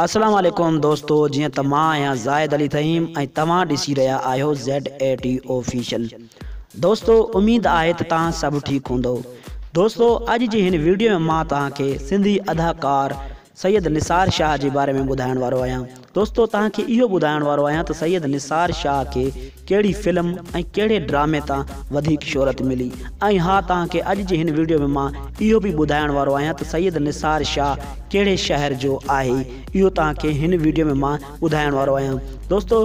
اسلام عليڪم دوستو جيئن ته مان آهيان زاهد علي فهيم ۽ توهان ڏسي رهيا آهيو ZAT Official دوستو اميد آهي ته توهان سڀ ٺيڪ هوندئو دوستو اڄ جي هن ويڊيو ۾ مان توهان کي سنڌي اداڪار سيد نثار شاهه جي باري ۾ ٻڌائڻ وارو آهيان دوستو توهان کي اهو ٻڌائڻ وارو آهيان ته سيد نثار شاهه کي ڪهڙي فلم ۽ ڪهڙي ڊرامي تان وڌيڪ شهرت ملي ۽ ها توهان کي اڄ جي هن ويڊيو ۾ مان اهو به ٻڌائڻ وارو آهيان ته سيد نثار شاهه ڪهڙي شهر جو آهي اهو توهان کي هن ويڊيو ۾ مان ٻڌائڻ وارو آهيان دوستو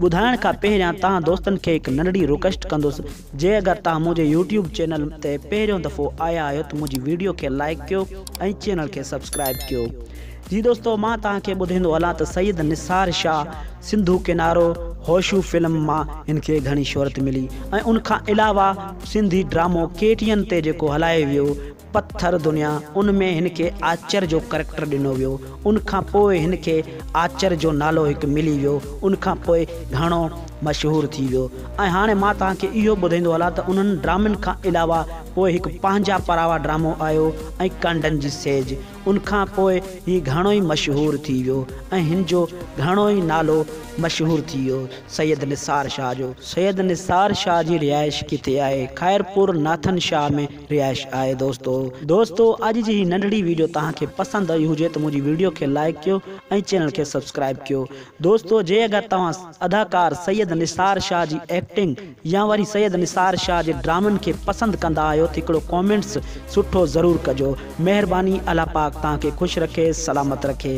ٻڌائڻ کان پهريان توهان دوستن کي هڪ ننڍڙي رڪويسٽ ڪندس جي اگر توهان منهنجي يوٽيوب چينل تي پهريون دفعو آيا آهيو ته منهنجي ويڊيو کي لائيڪ ڪيو ۽ چينل کي سبسڪرائيب ڪيو جي دوستو مان توهان کي ٻڌيندو هلان ته سيد نثار شاهه سنڌو ڪنارو هوشو فلم مان هن کي گهڻي شهرت ملي ۽ ان کان علاوه سنڌي ڊرامو ڪي ٽي اين تي جيڪو هلايو ويو پٿر دنيا ان ۾ هن کي آچر جو ڪريڪٽر ڏنو ويو ان کان پوء هن کي آچر جو نالو هڪ ملي ويو ان کان پوء گهڻو مشهور ٿي ويو ۽ هاڻي مان توهان کي اهو ٻڌيندو هلان ته انهن ڊرامن کان علاوه پوء هڪ پنهنجا پراوا ڊرامو آيو ۽ ڪانڊن جي سيج ان کان پوء هي گهڻو ئي مشهور ٿي ويو ۽ هن جو گهڻو ئي نالو مشهور ٿي ويو سيد نثار شاهه جو. سيد نثار شاهه جي رهائش ڪٿي آهي؟ خيرپور ناٿن شاهه ۾ رهائش آهي دوستو. دوستو اڄ جي هي ننڍڙي ويڊيو توهان کي پسند آئي هجي ته منهنجي ويڊيو کي لائيڪ ڪيو ۽ چينل کي سبسڪرائيب ڪيو. دوستو جي اگر توهان اداڪار سيد نثار شاھ جي ايڪٽنگ يا وري سيد نثار شاھ جي ڊرامن کي پسند ڪندا آهيو ته هڪڙو ڪامينٽس سٺو ضرور ڪجو مهرباني الله پاڪ توهان کي خوش رکي سلامت رکي.